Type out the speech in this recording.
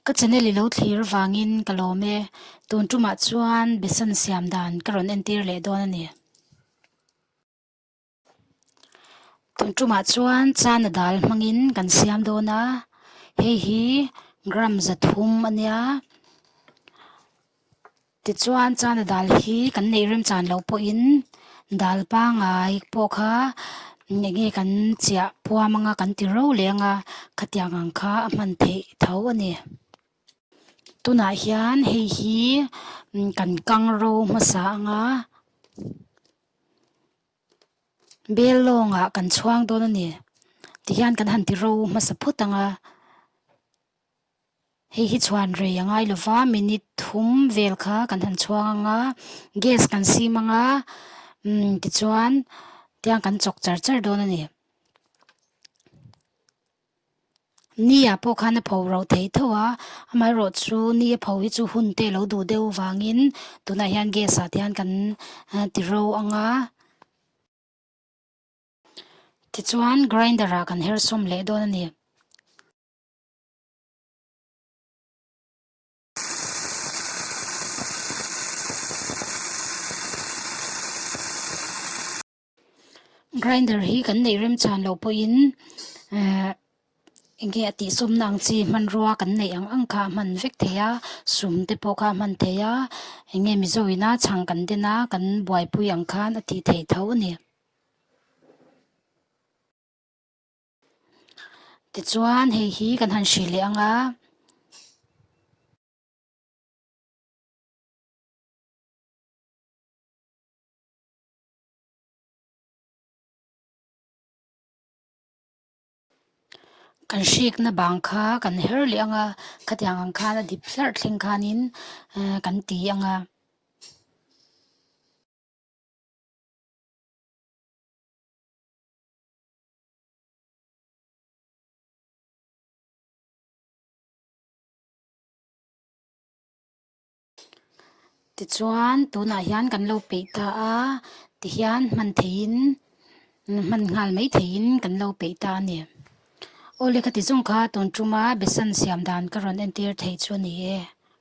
Ka channel i lo thlir vangin ka lawm e, tun tumah chuan besan siam dan ka rawn entir leh dawn a ni. Tun tumah chuan chana dal hmangin kan siam dawn a, hei hi gram za thum a nia. Tichuan chana dal hi kan neih rem chan loh pawhin dal pangai pawh kha eng nge kan chiah puam anga kan ti rauh leh anga khatiang ang kha a hman theih tho a ni. Tunah hian hei hi kan kang ro hmasa anga bel lawngah kan chhuang dawn a ni tih hian kan han ti ro hmasa phut ang a. Hei hi chhuan rei a ngai lova, minute thum vel kha kan han chhuang anga gas kan sim anga umm tichuan tiang kan chawk char char dawn a ni. Ni ah pawh khan a pho rauh thei thauh a, amaherawh chu ni a pho hi chu hun te lo duh deuh vangin tunah hian gas ah te hian kan ti ro anga. Tichuan grinder ah kan her sawm leh dawn a ni. Grinder hi kan neih rem chhan loh pawhin ehh enge a tihsawmna ang chi hmanrua kan neih ang ang kha a hman vek thei a sum te pawh kha a hman thei a enge mizo ina chhang kan den a kan buaipui ang khan a tih theih tho a ni. Tichuan hei hi kan han hrilh leh ang a. Kan hrikna bang kha kan her leh ang a, khatiang ang khan a dip hlarh thleng khanin ehh kan ti ang a. Tichuan tunah hian kan lo peih ta a ti hian hman theihin hman nghal mai theihin kan lo peih ta a ni aw lehkha ti zawng kha tun tuma besan siam dan ka rawn entir thei chu a ni e.